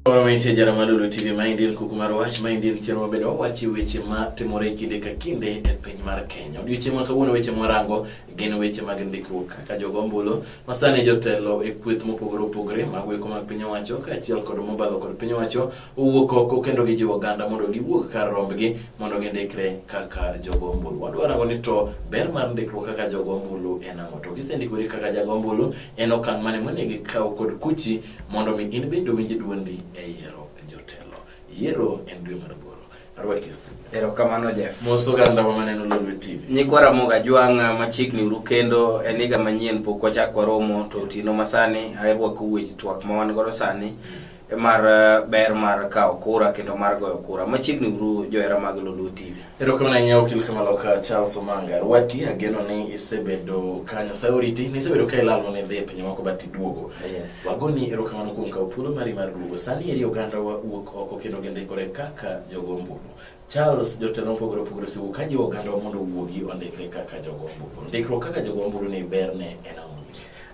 Oro ma intie jara malulu TV ma indil kuku mar wach ma indil chenro mabedo wawachi weche ma timore kinde ka kinde e piny mar Kenya. Odiochieng' ma kawuono weche mwarango gin weche mag ndikruok kaka jogo ombulu ma sani jotelo e kweth mopogore opogore mag weko mag piny owacho kaachiel kod mobalo kod piny owacho owuok oko kendo gijiwo oganda mondo giwuog kar rombgi mondo gindikre kaka jogo ombulu. Wadwa rango ni to ber mar ndikruok kaka jogo ombulu en ang'o? To kisendikori kaka jago ombulu, en okang' mane monego ikaw kod kuchi mondo mi in bende owinj duondi e yiero jotelo. Yiero en dwe mar aboro. Arwaki stu. Erokamano Jeff. Mos oganda wa maneno Lolwe TV. Nyikwa Ramogi Ajwang' machiegni uru kendo en higa manyien pok wachak waromo to otieno masani arwako weche twak ma wan godo sani. mar eh, ber mar kawo kura kendo mar goyo kura machiegni uru johera mag Lulu TV. Erokamano ahinya okil Kamaloka Charles Omanga. Rwaki ageno ni isebedo ka Nyasaye oriti, ni isebedo ka ilal mondo idhi e pinje moko but iduogo. Yes. Wagoni erokamano kuom kawo thuolo mari mar duogo. Sani eri ogandawa wuok oko kendo gindikore kaka jogo ombulu. Charles, jotelo mopogore opogore osewuok ka jiwo oganda mondo owuogi ondikre kaka jogo ombulu. Ndikruok kaka jogo ombulu ni berne en ang'o?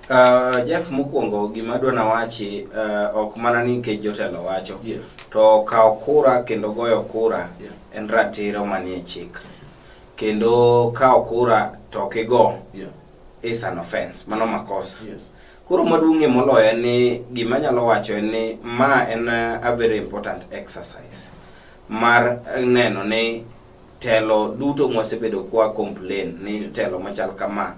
Uh, Jeff mokwongo gima adwa nawachi uh, ok mana ni nikech jotelo wacho yes. to kawo kura kendo goyo kura yeah. en ratiro manie chik kendo kawo kura to ok igo yeah. is an offense mano makosa yes. koro maduong'ie moloyo en ni gima nyalo wacho en ni ma en a very important exercise mar neno ni telo duto mwasebedo kwa complain ni telo machal kama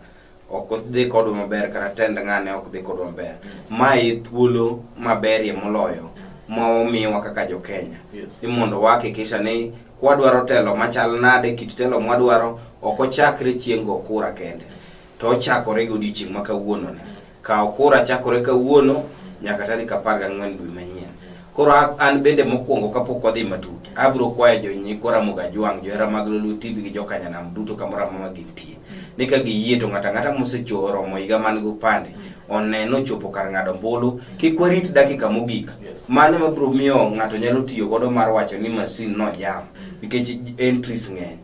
ok dhi kodwa maber kata tend ng'ane ok dhi kodwa maber mm. ma e thuolo maberie moloyo mm. ma omiwa kaka jo Kenya yes. ni mondo wahakikisha ni kwadwaro telo machal nade kit telo mwadwaro ok ochakre chieng' go kura kende mm. to ochakore godiechieng' ma kawuononi Kawo kura chakore kawuono nyaka tarik apar gang'wen dwe manyien. Koro an bende mokwongo kapok wadhi matut, abiro kwayo jonyikwa Ramogi Ajwang', johera mag Lolwe TV gi jokanyanam duto kamoro amora gintie, ni ka giyie to ng'ato ang'ata mosechoromo higa man gi opande one nochopo kar ng'ado ombulu. Kik warit dakika mogik, mano ema biro miyo ng'ato nyalo tiyo godo mar wacho ni masin nojam nikech entries ng'eny.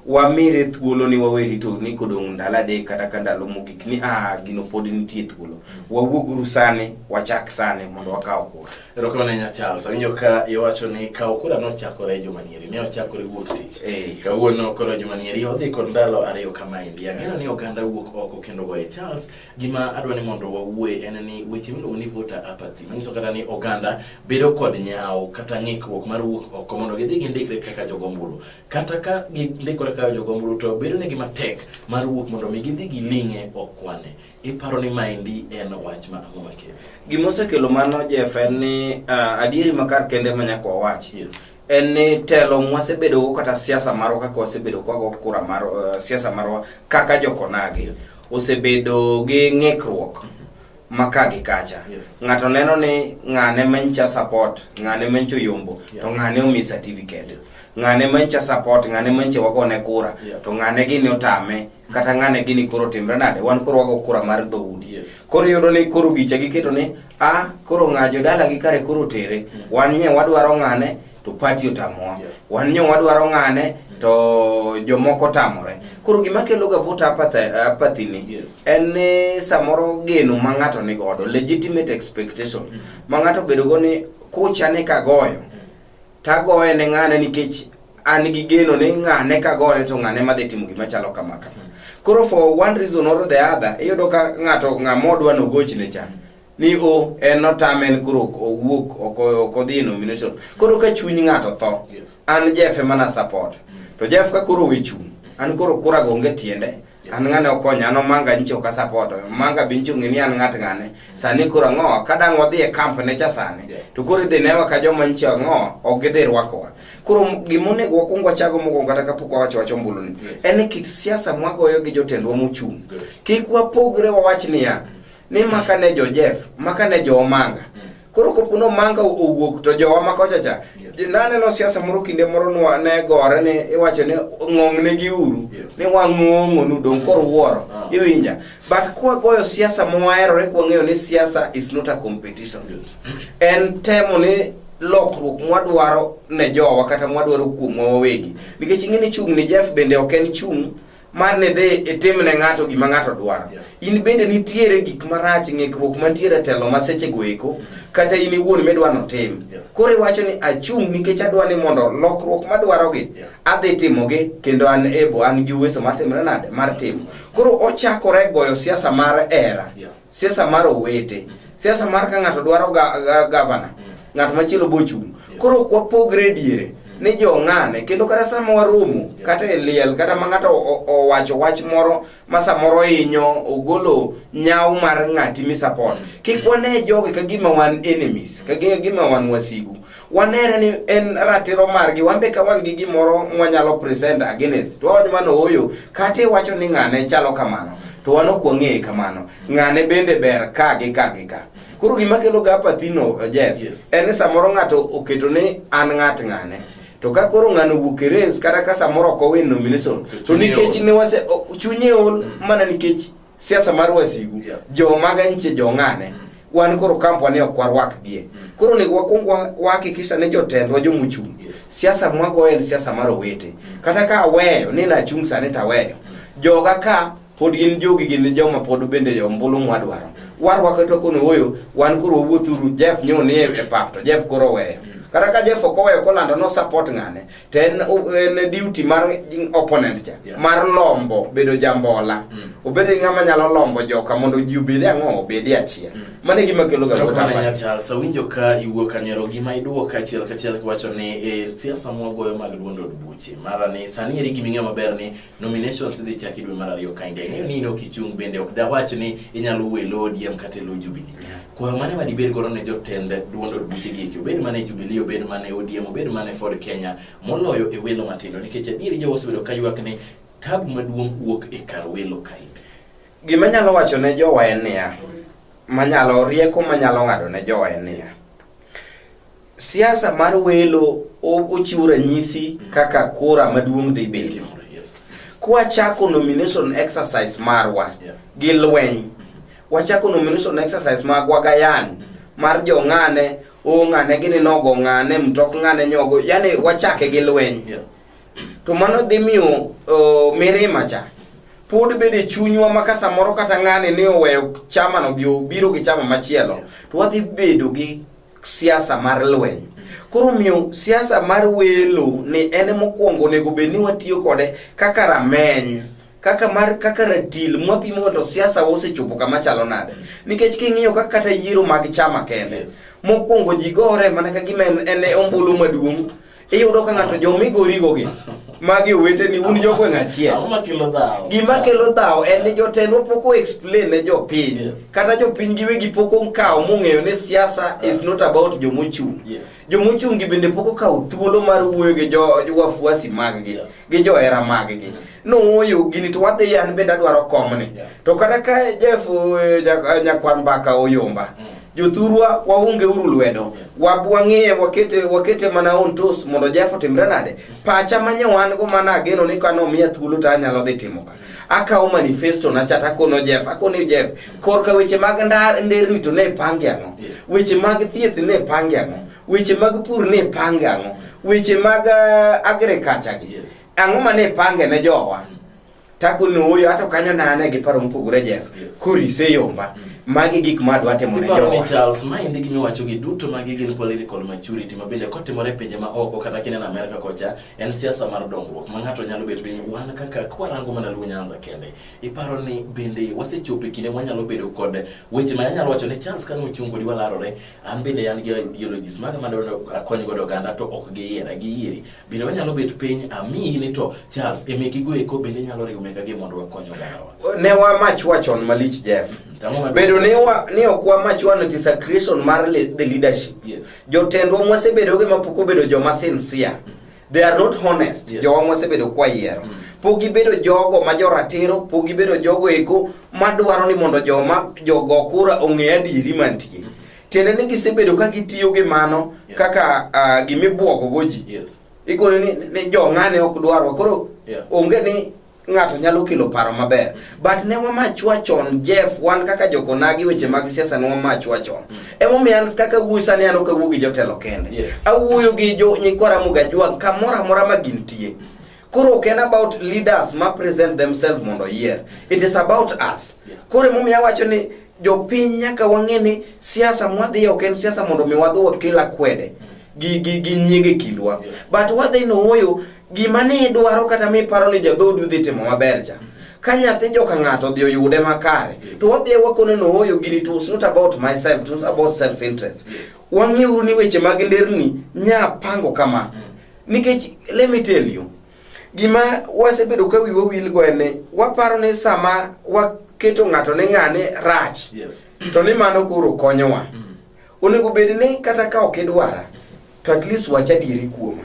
wamire thuolo ni wawe rito ni kodong' ndalo adek kata ka ndalo mogik ni ah gino pod nitie thuolo wawuoguru sani wachak sani mondo wakaw kura erokamano nya charles awinjo ka iwacho ni kawo kura nochakore juma nieri ne ochakore wuok tich Eh. kawuono koro juma nieri odhi kod ndalo ariyo kama endi ang'eyo ni oganda wuok oko kendo goye charles gima adwa ni mondo wawuoye en ni weche miluongo ni voter apathy manyiso kata ni oganda bedo kod nyawo kata ng'ikruok mar wuok oko mondo gidhi gindikre kaka jogombulu kata ka gindikore kayo jogombulu to bedonegi matek mar wuok mondo mi gidhi giling'e okwane iparo ni maendi en wach ma ang'o makelo gima osekelo mano jeff en ni uh, adieri makar kende ma nyaka wawach yes. en ni telo mwasebedogo kata siasa marwa kaka wasebedo kwago kura mar uh, siasa marwa kaka jokonagi yes. osebedo gi ng'ikruok mm -hmm ma ka gi kacha yes. ng'ato neno ni ng'ane mencha support ng'ane mencho yombo yeah. to ng'ane omi certificate yes. ng'ane mencha support ng'ane menche wagone kura yeah. to ng'ane gini otame kata ng'ane gini koro timre nade wan koro wago kura mar dhoudi yes. koro iyudo ni koro gicha giketo ni a ah, koro ng'a jodala gi kare koro tere mm. wan nye wadwaro ng'ane to pati otamowa yeah. wan nyo wadwaro ng'ane mm. to jomoko tamore mm. koro gima kelo ga vote apathy ni yes. en ni samoro geno ma ng'ato ni godo legitimate expectation mm. ma ng'ato bedo go ni kucha ni kagoyo mm. tagoye ne ng'ane nikech an gi geno ni ng'ane kagore to ng'ane ma dhi timo gima chalo kama kama mm. koro for one reason or the other iyudo ka ng'ato ng'ama odwa nogochne cha mm. ni o en otame en koro ok owuok ok ok odhi e nomination koro ka chuny ng'ato tho Yes. an jeff emana support to jeff ka koro owe chung' an koro kura go onge tiende an ng'ane okonya an omanga nyicha ok asapot omanga be nyicha ong'e ni an ng'at ng'ane sani koro ang'o ka dang' wadhi e kamp ne cha sani Yeah. to koro idhi newa ka joma nyicha ang'o ok gidhi rwakowa koro m- gima onego wakwong wachago mokwongo kata kapok wawacho wach ombuluni Yes. en ni kit siasa mwagoyo gi jotendwa mochung' Good. kik wapogre wawach niya ni maka ne jo Jeff maka ne jo Omanga mm. koro kopo ni Omanga owuok to jowa ma kocha cha yes. naneno siasa moro kinde moro nwa ne gore ni iwacho ni ng'ong'ne gi uru yes. ni wang'ong'onu dong koro wuoro ah. iwinja but kwa goyo siasa mwaherore kwa ng'eyo ni siasa is not a competition en temo ni lokruok mwadwaro ne jowa kata mwadwaro kuomwa wawegi nikech ing'e ni chung' ni Jeff bende ok en chung' mar ne dhi itim ne ng'ato gima ng'ato dwaro yeah. in bende nitiere gik marach ng'ikruok mantiere telo ma sechego eko mm. kata in iwuon midwa notim yeah. koro iwacho ni achung' nikech adwa ni mondo lokruok madwarogi yeah. adhi timogi kendo an ebo an gi uweso mar timre nade mar timo koro ochakore goyo siasa mar era yeah. siasa mar owete siasa mar ka ng'ato dwaro ga- ga- gavana ng'at machielo bochung' koro ok wapogre diere ni jong'ane kendo kata sama waromo kata e liel kata ma ng'ato o- o- owacho wach moro ma samoro hinyo ogolo nyaw mar ng'ati misapot kik wane jogi ka gima wan enemies ka gi- gima wan wasigu wanere ni en ratiro margi wan be ka wan gi gimoro mwanyalo present against to wawacho mano ooyo kata iwacho ni ng'ane chalo kamano to wan ok wang'eye kamano ng'ane bende ber ka gi ka gi ka koro gima kelo ga apathino Jeff Yes. en ni samoro ng'ato oketo ni an ng'at ng'ane to ka koro ng'ano wuok e race kata ka samoro ok owin nomination to Chunye nikech ol. ne wase o- chunye ol mana nikech siasa mar wasigu Yeah. jomaga nitie jong'ane wan koro kampwa ni ok warwakgie koro onego wakwong wa- wahakikisha ni jotendwa jomochung' Yes. siasa mwagoyo en siasa mar owete kata ka aweyo ni nachung' sani taweyo joga ka pod gin jogi gin joma pod bende jo ombulu mwadwaro warwako to kono oyo wan koro wawuothuru jeff nyo ni e pap to jeff koro oweyo kata ka jeff ok oweyo kolando no support ng'ane to en en duty mar opponent cha Yeah. mar lombo bedo jambola Mm. obed ni ng'ama nyalo lombo joka mondo ji obede ang'o obede achiel Mm. mano e gima kelo ga Erokamano voter ahinya apathy. Charles, awinjo ka iwuok kanyero gima iduoko kachiel kachiel kiwacho ni e siasa mwagoyo mag duond od buche mara ni sani eri giming'eyo maber ni Nominations idhi chaki dwe mar ariyo ka inge ng'eyo ni in ok ichung' bende ok dawach ni inyalo wuo e lo ODM kata e lo Jubilee. Kwayo mane ma dibed godo ne jotend duond od buche gi eki obed mana e Jubilee obed mana e ODM obed mana e Ford Kenya moloyo e welo matindo nikech adieri jowa osebedo ka ywak ni tabu maduong' wuok e kar welo ka in. Gima anyalo wacho ne jowa en niya, manyalo rieko manyalo ng'ado ne jowa en niya, Siasa mar welo ochiwo ranyisi mm. kaka kura maduong' dhi bedo. Kwachako nomination exercise marwa gi lweny, mm-hmm. wachako nomination exercise magwa gayan mm-hmm. mar jo ng'ane o ng'ane gini nogo ng'ane mtok ng'ane nyogo, yani wachake gi lweny. To mano dhi miyo mirima cha pod bede chunywa ma ka samoro kata ng'ani ni oweyo chama no dhi obiro gi chama machielo to wadhi bedo gi siasa mar lweny koro miyo siasa mar welo ni en mokwongo onego bed ni watiyo kode kaka rameny kaka mar kaka ratil mwapimo mondo siasa osechopo kama chalo nade nikech king'iyo kaka kata yiero mag chama kende Yes. mokwongo ji gore mana ka gima en en e ombulu maduong' iyudo ka ng'ato joma igorigogi magi oweteni un jogweng' achiel Ang'o makelo dhawo? gima kelo dhawo en ni jotelo pok o explain ne jopiny Yes. kata jopiny giwegi pok okawo mong'eyo ni siasa is not about jomochung' Yes. jomochungi bende pok okawo thuolo mar wuoyo gi jo wafuasi maggi Yeah. gi johera maggi nooyo gini to wadhi an bende adwaro komni Yeah. to kata ka jef eh, nya- eh, nyakwar mbaka oyomba Mm. jothurwa waunge uru lwedo Yeah. wab wang'iye wakete wakete mana on tos mondo jef otimre nade pacha manye wan go mana ageno ni kano miya thuolo to anyalo dhi timo ka akawo manifesto na chata kono jef akoni jef korka weche mag ndar nderni to ne pange ang'o Yeah. weche mag thieth ne pange ang'o weche mag pur ne pange ang'o weche mag uh, agriculture gi Yes. ang'o ma ne pange ne jowa Mm. tako nooyo ato kanyo nane gi paro mopogore jef Yes. korise yomba Mm. magi gik ma adwa timo ne Iparo ni jowa Charles, ma endi gima iwacho gi duto magi gin political maturity ma bende kotimore e pinje ma oko kata kineno Amerka kocha en siasa mar dongruok ma ng'ato nyalo bet piny wan kaka kwarango mana Luo Nyanza kende. Iparo ni bende wasechopo e kinde mwanyalo bedo kod weche ma anyalo wacho ni Charles kane ochung kodi walarore an bende an gi ideologies maga mane akony godo oganda to ok giyiera giyieri bende wanyalo bet piny amiyi ni to charles emekigo eko bende inyalo riwo mekagi mondo wakony ogandawa ne wamach wachon malich jeff mm, bedo ni ni ok wamach wano desecration mar the leadership yes. jotendwa mwasebedoge mapok obedo joma sincere mm -hmm. they are not honest yes. jowa mosebedo kwa yiero mm. pok gibedo jogo ma joratiro pok gibedo jogo eko madwaro ni mondo joma jogo kura ong'e adieri mantie mm. tiende ni gisebedo ka gitiyo gi mano yeah. kaka uh, ah, gimibwogogo ji yes. ikone ni, ni jong'ane ok dwarwa koro yeah. onge ni ng'ato nyalo kelo paro maber but ne wamachwa chon jeff wan kaka jokonagi weche mag siasa ne wamachwa chon mm. emomiyo an kaka wuoyi sani an ok awuo gi jotelo kende yes. awuoyo gi jo nyikwara mugajwang kamoro amora ma gintie koro ok en about leaders ma present themselves mondo oyier it is about us koro emomiyo awacho ni Jopiny nyaka wang'e ni siasa mwadhiye ok en siasa mondo mi wadhi wakel akwede gi gi gi nyiege kindwa but wadhi nowoyo gima ne idwaro kata miparo ni jadhodu dhi timo maber cha ka nyathi joka ng'ato odhi oyude makare to wadhi wakone nowoyo gini to it's not about myself it was about self interest wang'euru ni weche mag nderni nya pango kama nikech let me tell you Gima wasebedo ka wiwa wilgo en ni waparo ni sama waketo ng'ato ni ng'ane rach Yes. to ni mano koro konyowa. Onego bed ni kata ka ok idwara to at least wach adieri kuoma.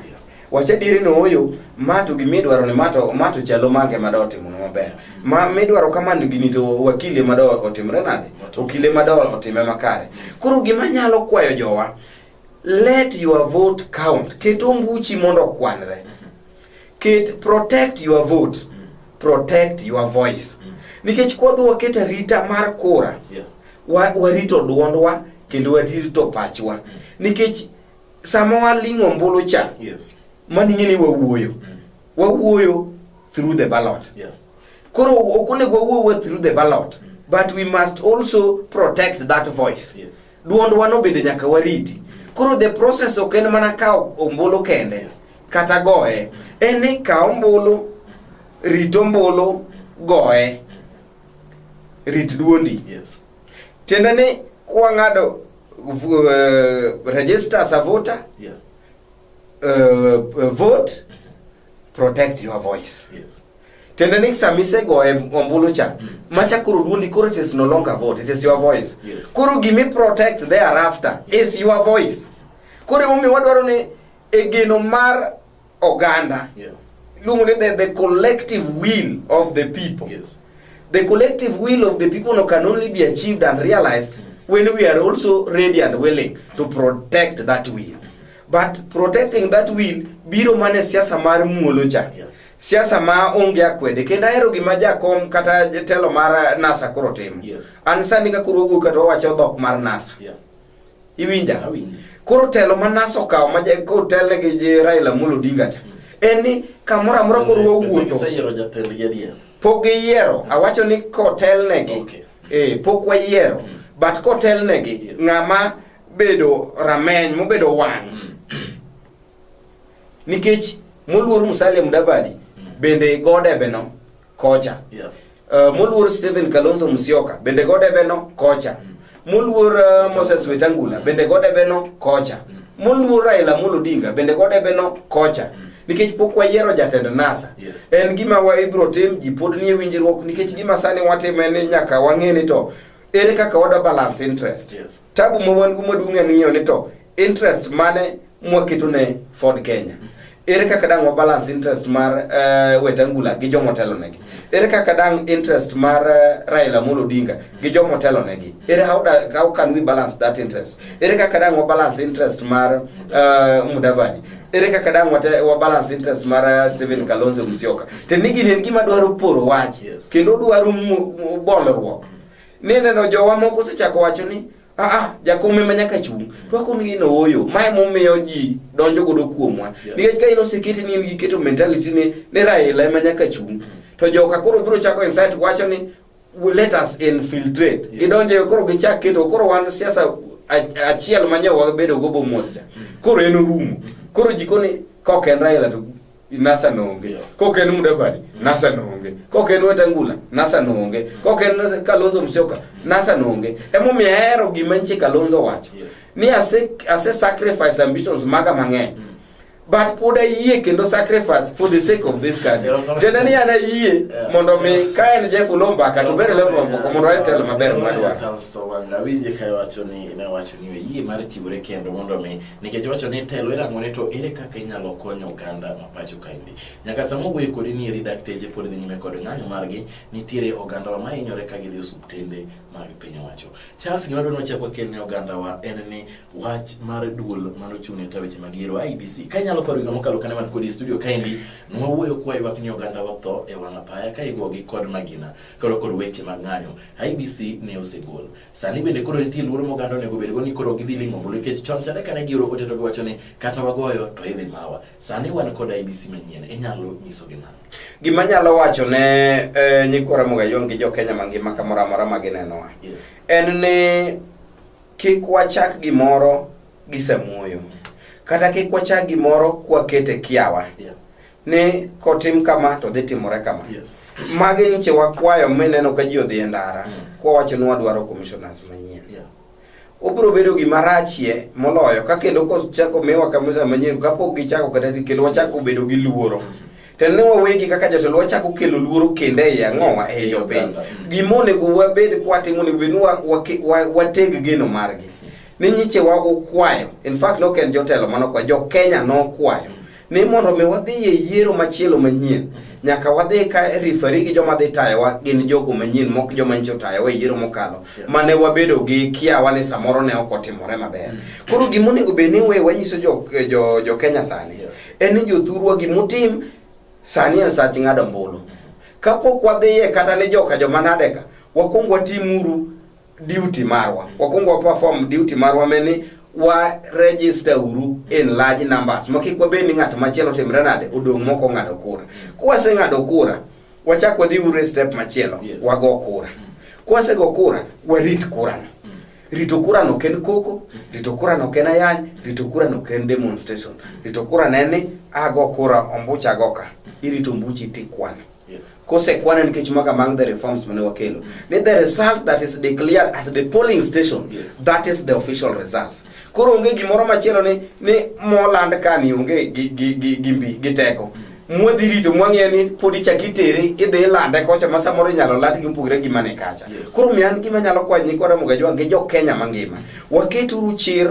Wach adieri ni oyo ma to gima idwaro ni ma to ma to chalo mage ma do otimone maber. Ma midwaro kamano gini to wakile ma do otimre nade? Okile ma do otime makare. Koro gima nyalo kwayo jowa Let your vote count. Ket ombuchi mondo okwanre. Mm-hmm. Ket protect your vote. Mm. Protect your voice. Mm. Nikech kwadhi waket arita mar kura. Yeah. Wa, warito duondwa kendo warito pachwa. Mm. Nikech sama waling'o ombulu cha. Yes. Mani ng'e ni wawuoyo. Mm. Wawuoyo through the ballot. Yeah. Koro ok onego wawuoyo through the ballot. Mm. But we must also protect that voice. Yes. Duondwa no bende nyaka wariti. Koro the process ok en mana kawo ombulu kende kata goye, en ni kaw ombulu, rit ombulu, goye, rit duondi. Yes. Tiende ni kwang'ado uh, register as a voter, yeah. uh, vote protect your voice yes. Tende ni sama isegoye ombulu cha mm. macha koro duondi koro it is no longer vote it is your voice yes. Koro gimi protect thereafter yes. is your voice koro emomiyo wadwaro ni e geno mar oganda yeah. luongo ni the, the collective will of the people yes. the collective will of the people no can only be achieved and realized mm. when we are also ready and willing to protect that will but protecting that will biro mane siasa mar muolo cha yeah. siasa ma onge akwede kendo ahero gima jakom kata jatelo mar nasa koro timo yes. an sani ka koro wuok kata owacho dhok mar nasa yeah. iwinja koro telo ma nasa okawo ma kotelne gi Raila Amolo Odinga cha mm. en ni kamoro amora koro wawuotho pok giyiero awacho ni kotelnegi okay. eh, pok wayiero mm. but kotelnegi yeah. ng'ama bedo rameny mobedo wang' mm. nikech moluor Musalia Mudavadi mm. bende godebeno kocha yeah. uh, moluor Stephen Kalonzo Musyoka bende godebeno kocha mm. moluor uh, Moses Wetangula bende godebeno kocha mm. moluor Raila Amolo Odinga bende godebeno kocha mm. nikech pok wayiero jatend NASA yes. en gima wa ibro tim ji pod nie winjruok nikech gima sani watimo en nyaka wang'e ni to ere kaka wada balance interest yes. Tabu ma wan go maduong' en ng'eyo ni to interest mane mwaketo ne Ford Kenya. Ere kaka dang' wa balance interest mar uh, Wetangula gi jomo telo negi? Ere kaka dang' interest mar uh, Raila Amolo Odinga gi jomo telo negi? Ere how, da, how can we balance that interest? Ere kaka dang' wa balance interest mar uh, Mudavadi? Ere kaka dang' wa, wa balance interest mar uh, Stephen Kalonzo Musyoka? Tenigi en gima dwaro poro wach yes. kendo dwaro bolruok Ni neno jowa moko osechako wacho ni aa ah, ah, jakom ema nyaka chung' to ako ni in ooyo mae momiyo ji donjo godo kuomwa nikech ka in oseketi ni in gi keto mentality ni ni Raila ema nyaka chung' mm. to joka koro biro chako insight wacho ni let us infiltrate gidonje koro gichak keto koro wan siasa achiel ma nyawa bedo go bomosja mm. koro en orumo mm. koro jikoni kok en Raila to Nasa noonge. Kok en Mudavadi, Nasa noonge. Kok en Wetangula, Nasa noonge. Kok en Kalonzo Musyoka, Nasa noonge. Emomiyo ahero gima nchi Kalonzo wacho. Yes. Ni ase, ase sacrifice ambitions maga mang'eny. But pod ayie kendo sacrifice for the sake of this country. Erokamano. Tiende ni an ayie Yeah. mondo mi ka en Jeff Lombaka to bere level moko mondo ayud telo maber madwaro. Awinje ka wacho ni ne wacho ni oyie mar chiwore kendo mondo mi nikech wacho ni telo irango ni to ere kaka inyalo konyo oganda ma pacho kaendi nyaka sama owuoyo kodi ni eri dakteche pod dhi nyime kod ng'anyo margi nitiere ogandawa ma hinyore ka gidhi osuptende mag piny owacho charles gima dwani wachak wakel ne ogandawa en ni wach mar duol mano chung' ne ta weche mag yiero ibc ka inyalo paro higa mokalo kane wan kodi e studio kaendi nwawuoyo kwa ywak ni ogandawa tho e wang' apaya ka igogi kod magina koro kod weche mag ng'anyo ibc ne osegol Sani bende koro nitie luoro ma oganda onego obedgo ni koro gidhi ling'o ombulu nikech chon chande kane gioro ote to giwacho ni kata wagoyo to idhi mawa. Sani wan kod IBC manyien, inyalo nyiso gi nang'o? Gima anyalo wacho ne eh, nyikwa Ramogi Ayong' gi jo-Kenya mangima kamoro amora ma ginenowa Yes. en ni kik wachak gimoro gi samuoyo kata kik wachak gimoro kwakete kiawa Yeah. ni kotim kama to dhi timore kama yes. magi nyiche wakwayo mineno ka ji odhi e ndara mm. kwawacho ni wadwaro commissioners manyien yeah. obiro bedo gima rachie moloyo ka kendo kochako miwa kamisa manyien kapok gichako kata kendo wachako bedo gi luoro mm. to ne wawegi kaka jotelo wachako kelo luoro kende e yang'owa e yo piny mm. gima onego wabed kwatimo onego bed ni wateg geno margi ni nyiche wa ukwayo in fact noken jotelo manokwayo jo kenya nokwayo ni mondo mi wadhi e yiero machielo manyien nyaka wadhi ka rifari gi joma dhi tayowa gin jogo manyien mok joma nyicho tayowa e yiero mokalo mane wabedo gi kiawa ni samoro ne ok otimore maber koro gima onego bed ni we wanyiso jo, jo, jo kenya sani en ni jothurwa gimutim sani en sach ng'ado ombulu kapok wadhiye kata ni joka joma nadeka wakwong watimuru duty marwa wakwongo wa perform duty marwa meni wa register uru in large numbers ma kik wabed ni ng'at machielo timre nade odong' moko ong'ado kura kwaseng'ado kura wachak wadhi uru e step machielo Yes. wago kura kwasego kura warit kurano rito kurano ok en koko rito kurano ok en ayany rito kurano ok en demonstration rito kurano en ni ago kura ombucha ago ka irito ombuchi tikwano kosekwane nikech maka among the reforms mane wakelo ni the result that is declared at the polling station Yes. that is the official result koro onge gimoro machielo ni ni moland kani onge gi, gi, gi, gi mbi gi teko mwadhi rito mwang'eyo ni pod ichak itere idhi ilande kocha ma samoro inyalo land gi mopogre gi mane kacha Yes. koro mi an gima nyalo kwayo nyikwa Ramogi Ajwang' gi jo Kenya mangima waketuru chir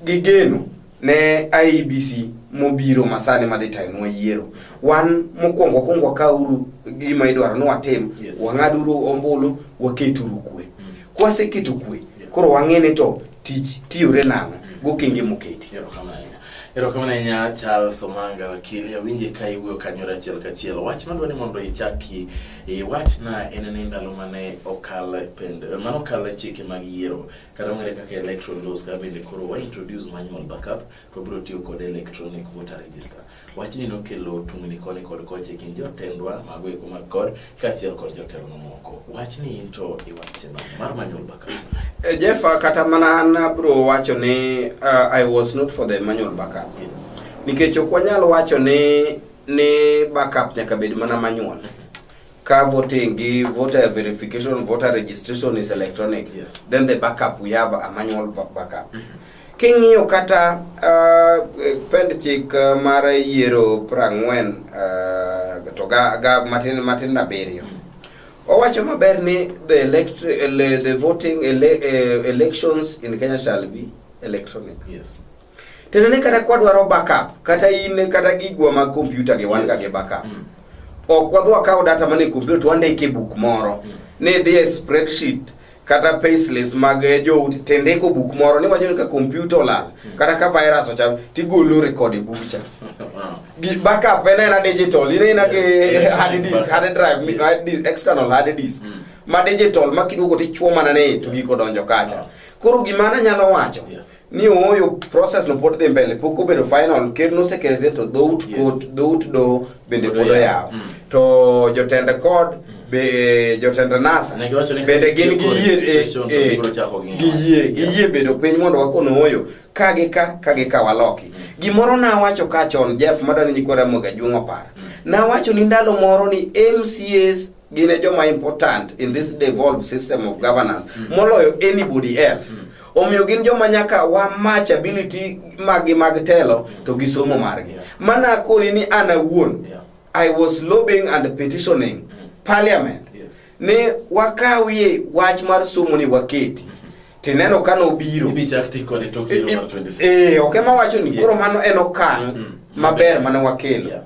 gi geno ne IEBC mobiro masani madhi tayo yiero wan mokwongo wakwongo wakauru gima idwaro ni watim yes. wang'aduru ombulu waketuru kwe mm. kwaseketo kwe yeah. koro wang'e ni to tich tiyore nang'o mm. gokenge moketi erokamano ahinya charles omanga wakili awinje ka iwuoyo kanyore achiel kachiel wach madwa ni mondo ichaki iwachna en ni ndalo mane okal pend mane okal chike mag yiero kata ong'ere kaka electoral laws ka bende koro wa introduce manual backup to bro tiyo kod electronic voter register wachni nokelo tungni koni kod koche kind jotendwa mago eko mag kod kaachiel kod jotelo mamoko wachni in to iwache nade mar manual backup eh, Jeff kata mana an bro wacho ni uh, I was not for the manual backup yes. nikech ok wanyal wacho ni ni backup nyaka bed mana manual ka voting gi voter verification voter registration is electronic yes. then the backup we have a manual backup mm -hmm. King'iyo kata uh, pend chik uh, mar yiero prang'wen uh, to ga, ga matin matin abiriyo mm. owacho maber ni the, elect, ele, the voting ele, uh, elections in Kenya shall be electronic yes. Tena ne kata kwa dwaro backup kata in kata gigwa mag kompyuta gi wan ga gi backup. Mm. Ok wadwa kawo data mane kompyuta to wandike e buk moro. Mm. Ne dhi e spreadsheet kata payslips mag eh, jout tendeko buk moro ni wacho ka kompyuta olal mm. kata ka virus ocham tigolo record e bucha. Gi backup en era digital, ine ina gi hard disk, hard drive, hard disk, external hard disk. Mm. Ma digital ma kiduogo tichuo mana ne to giko donjo kacha. Ah. Koro gimana nyalo wacho. Yeah. ni ooyo process no pod dhi mbele pok obedo final ker nosekelete to dhout yes. kot dhout do bende pod oyawo mm. to jotend kod mm. be jotend nasa bende gin giyie eh, eh, giyie giyie bedo piny mondo wakon ooyo ka gi ka ka gi ka waloki mm. gimoro nawacho ka chon jeff madani nyikora moga juong'o para mm. nawacho ni ndalo moro ni mcs gin e joma important in this devolved system of governance mm. moloyo anybody else mm. omiyo gin joma nyaka wa match ability maggi mag telo mm. to gi somo margi yeah. mana koni ni an awuon yeah. i was lobbying and petitioning mm. parliament yes. ni wakawie wach mar somo ni waketi mm. tineno ka nobiro e, e, e, ok ema wacho ni yes. koro mano en okang mm. maber mane wakelo yeah.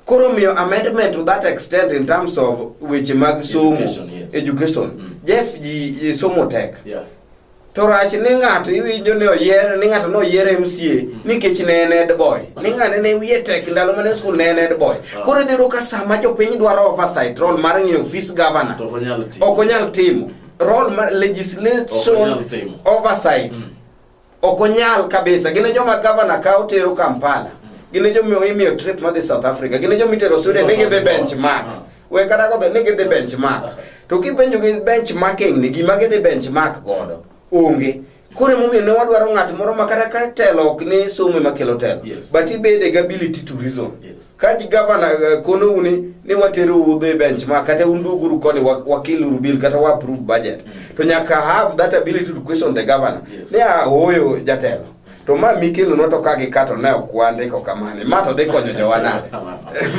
koro miyo amendment to that extent in terms of weche mag somo Education, yes. education Mm. jeff ji ji somo tek Yeah. to rach ni ng'ato iwinjo ni oyier ni ng'ato ne oyier mca nikech ne en ed boy ni ng'ane ne wiye tek ndalo mane skul ne en ed boy Ah. koro idhi yudo ka sama jopiny dwaro oversight role mar ng'eyo office governor To ok onyal timo. ok onyal timo role mar Ok onyal legislation timo. oversight Mm. Ok onyal kabisa. Gin e joma gavana kawo tero Kampala. Gin e joma imiyo trip madhi South Africa. Gin e joma itero Sweden ni gidhi benchmark. We kata kodhi ni gidhi benchmark. To kipenjo gi benchmarking ni gima gidhi benchmark godo onge. Koro emomiyo ne wadwaro ng'at moro ma kata ka telo ok ni somo ema kelo telo. Yes. But ibede gi ability to reason. Yes. ka gavana eh, konou ni ni watero udho e bench ma kata un duguru koni wakil uru bill kata wa approve budget mm. to nyaka have that ability to question the governor yes. ni ahoyo jatelo to ma mikelo no to ka gi kato ne ok wandiko kamane ma to dhi konyo jowa nade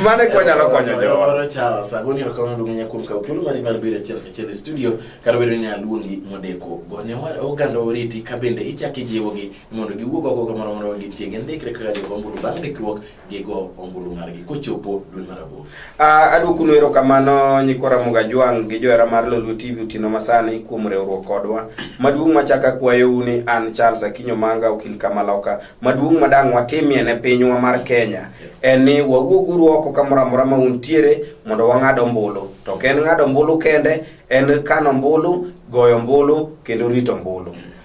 mane ko nyalo konyo jowa oro chawa sagoni ero kama ndungu nyakum ka ukilu mari mar bire chel chel studio kar bedo ni aluongi modeko gonyo mar oganda oriti ka bende ichaki jiwogi mondo giwuog oko kamoro moro gi tiege ndikre kaka jogomburu bang' ndikruok gigo ombulu margi kochopo dwe mar aboro. Uh, adwokunu erokamano nyikwa Ramogi Ajwang' gi johera mar Lolwe TV otieno masani kuom riwruok kodwa. Maduong' machak akwayou ni an Charles Akinyo Manga okil Kamaloka. Maduong' madang' watimie ne pinywa mar Kenya en ni wawuoguru oko kamoro amora ma untiere mondo wang'ad ombulu. To ok en ng'ado ombulu kende, en kano ombulu, goyo ombulu kendo rito ombulu.